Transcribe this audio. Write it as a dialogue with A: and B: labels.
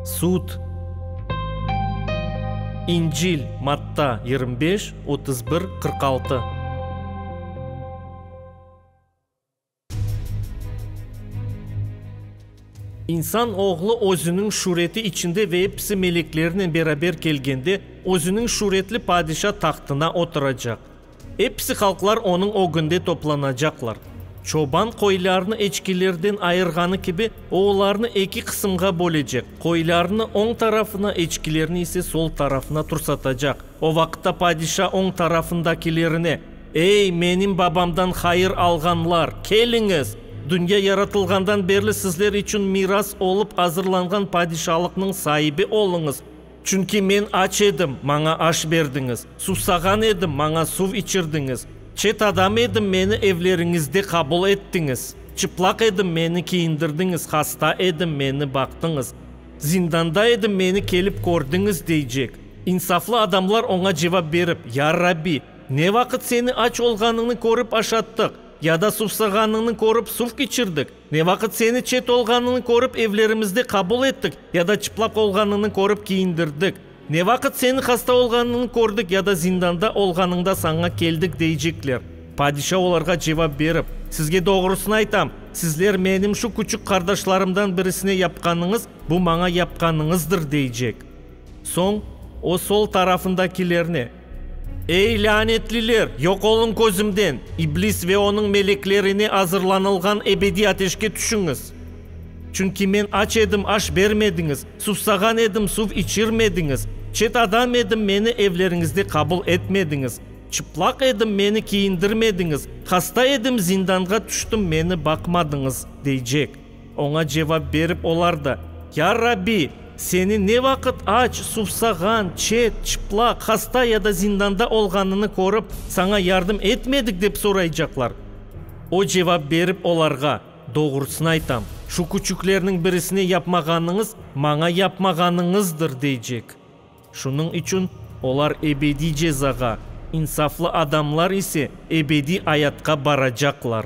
A: Sud, İncil, Matta, yirmi beş, otuz bir, qırq altı. İnsan oğlu özüniñ şureti içinde ve episi meleklerinen beraber kelgende, özüniñ şuretli padişa tahtına oturacaq. Episi halqlar onıñ ögünde toplanacaqlar. Çoban qoylarnı eçkilerden ayırğanı kibi, o olarnı eki qısımğa bölecek, qoylarnı, oñ tarafına, eçkilerni ise sol tarafına tursatacaq. O vaqıtta padişa oñ tarafındakilerine, Ey, menim babamdan hayır alğanlar, keliñiz! Dünya yaratılğandan berli sizler içün miras olıp azırlanğan padişalıqnıñ saibi oluñız. Çünki men aç edim, maña aş berdiñiz, sussağan edim, maña suv içirdiñiz, çet adam edim, meni evleriñizde qabul ettiñiz, çıplaq edim, meni kiyindirdiñiz, hasta edim, meni baqtıñız, zindanda edim, meni kelip kördiñiz, deycek. İnsaflı adamlar oña cevap berip, Ya Rabbi, ne vaqıt seni aç olğanıñnı körip aşattıq, ya da sussağanıñnı körip suv içirdik? Ne vaqıt seni çet olğanıñı körip evlerimizde qabul ettik ya da çıplaq olğanıñı körip kiyindirdik, ne vaqıt seni hasta olğanıñı kördik ya da zindanda olğanıñda saña keldik deycekler. Padişa olarğa cevap berip, Sizge doğrusını aytam, sizler menim şu küçük qardaşlarımdan birisine yapqanıñız, bu maña yapqanıñızdır deycek. Soñ o sol tarafındakilerine. Ey, lânetliler, yoq oluñ közümden! İblis ve onıñ meleklerine azırlanılğan ebediy ateşke tüşüñiz! Çünki men aç edim, aş bermediñiz, sussağan edim, suv içirmediñiz, çet adam edim, meni evleriñizde qabul etmediñiz, çıplaq edim, meni kiyindirmediñiz, hasta edim, zindanğa tüştim, meni baqmadıñız, deycek. Oña cevap berip olar da, Ya Rabbi, seni ne vaqıt aç, suvsağan, çet, çıplaq, hasta ya da zindanda olğanını körip, saña yardım etmedik, dep soraycaqlar. O cevap berip olarğa, Doğrusını aytam, şu küçüklerniñ birisine yapmağanıñız, maña yapmağanıñızdır, deycek. Şunıñ içün olar ebediy cezağa, insaflı adamlar ise ebediy ayatqa baracaqlar.